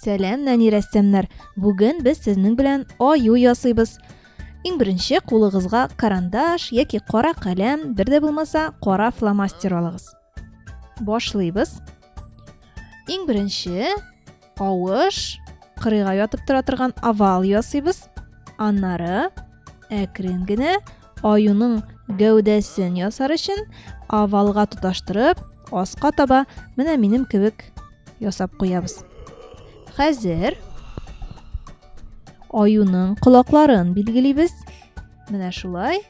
Сәлам, нәни рәссамнар! Бүген без сезнең белән аю ясыйбыз. Иң беренче кулыгызга карандаш яки кара каләм, бер дә булмаса кара фломастер алыгыз. Башлыйбыз. Иң беренче авыш кырыйга ятып тора торган овал ясыйбыз. Аннары әкрен генә аюның гәүдәсен ясар өчен овалга тоташтырып, аска таба менә минем кебек ясап куябыз хәзер аюның колакларын билгелибез менә шулай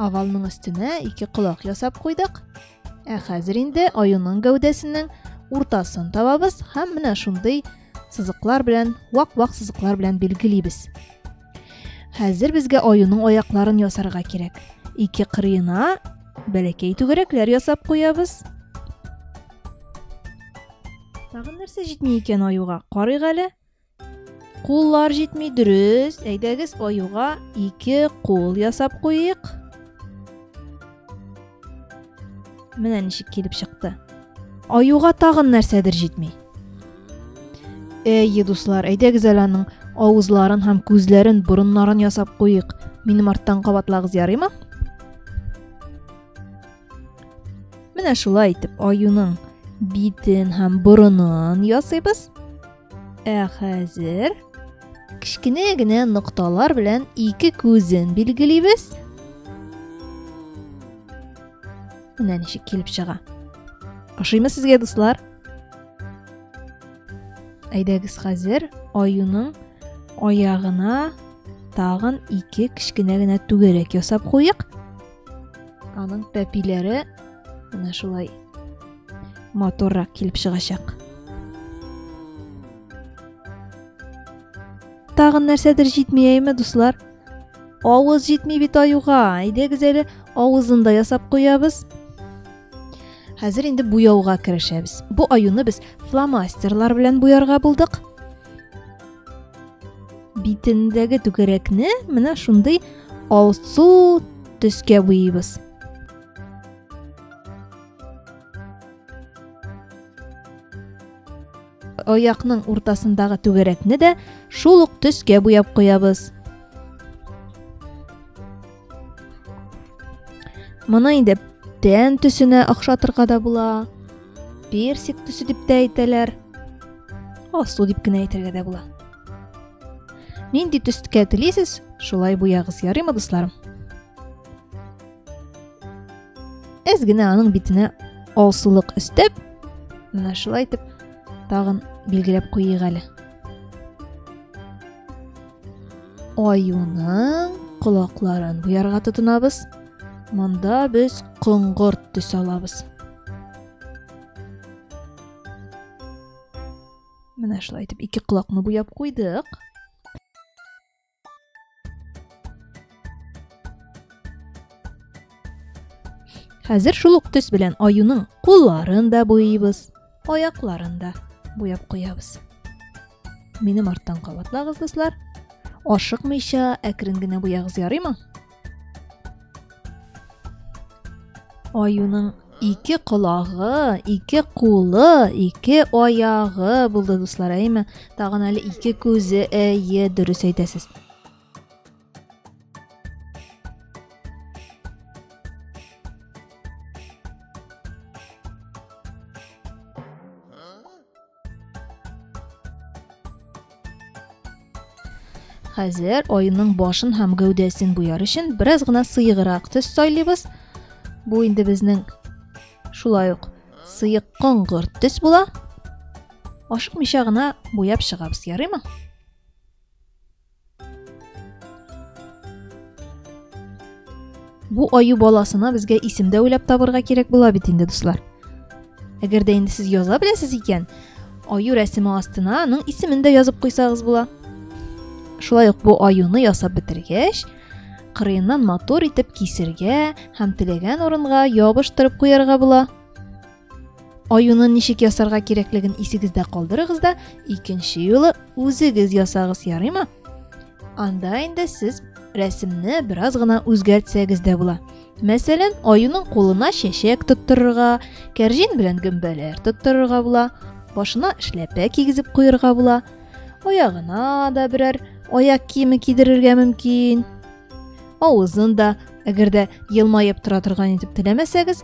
овалның өстенә ике колак ясап куйдык ә хәзер инде аюның гәүдәсенең уртасын табабыз һәм менә шундый сызыклар белән вак вак сызыклар белән билгелибез Хәзер безгә аюның аякларын ясарга кирәк. Ике кырыена бәләкәй түгәрәкләр ясап куябыз. Тагын нәрсә җитми икән аюга? Карыйк әле. Куллар җитми, дөрес. Әйдәгез, аюга ике кул ясап куйыйк. Менә ничек килеп чыкты. Аюга тагын нәрсәдер җитми. Әйе, дуслар, әйдәгез әле аның авызларын һәм күзләрен, борыннарын ясап куйыйк. Минем арттан кабатлагыз ярыймы? Менә шулай итеп аюның битен һәм борынын ясыйбыз. Ә хәзер кечкенә генә нокталар белән ике күзен билгелибез. Менә ничек килеп чыга. Ашыймы сезгә дуслар? Әйдәгез хәзер аюның аягына тагын ике кечкенә генә түгәрәк ясап куйык. Аның пәпиләре менә шулай моторрак килеп чыгачак. Тагын нәрсәдер җитмиеме, дуслар? Авыз җитми бит аюга. Әйдәгез әле авызын да ясап куябыз. Хәзер инде буяуга керешәбез. Бу аюны без фломастерлар белән буярга булдык. битендәге түгәрәкне менә шундый алсу төскә буйыйбыз аякның уртасындагы түгәрәкне дә шул ук төскә буяп куябыз Моны инде тән төсенә охшатырга да була. Персик төсе дип тә әйтәләр. Асыл дип кенә әйтергә дә була. Нинди төскә телисез, шулай буягыз, ярыймы, дусларым? Әз генә аның битенә алсулык өстәп, менә шулай итеп тагын билгеләп куйыйк әле. Аюның колакларын буярга тотынабыз. Монда без коңгырт төс алабыз. Менә шулай итеп ике колакны буяп куйдык. Хәзер шул ук төс белән аюның кулларын да буйыйбыз. аякларын да буяп куябыз минем арттан кабатлагыз дуслар ашыкмыйча әкрен генә буягыз ярыймы аюның ике колагы ике кулы ике аягы булды дуслар әйме тагын әле ике күзе әйе дөрес әйтәсез Хәзер айының башын һәм гәүдәсен буяр өчен бераз гына сыеграк төс сайлыйбыз. Бу инде безнең шулай ук сыек коңгырт төс була. Ашыкмыйча гына буяп чыгабыз, ярыймы? Бу аю баласына безгә исем дә уйлап табырга кирәк була бит инде, дуслар. Әгәр дә инде сез яза беләсез икән, аю рәсеме астына аның исемен дә язып куйсагыз була. Шулай ук бу аюны ясап бетергәч, кырыеннан матур итеп кисергә һәм теләгән урынга ябыштырып куярга була. Аюны ничек ясарга кирәклеген исегездә калдырыгыз да, икенче юлы үзегез ясагыз, ярыймы? Анда инде сез рәсемне бераз гына үзгәртсәгез дә була. Мәсәлән, аюның кулына чәчәк тоттырырга, кәрҗин белән гөмбәләр тоттырырга була, башына эшләпә кигезеп куярга була, аягына да берәр аяк киеме кидерергә мөмкин. Авызын да, әгәр дә елмаеп тора торган итеп теләмәсәгез,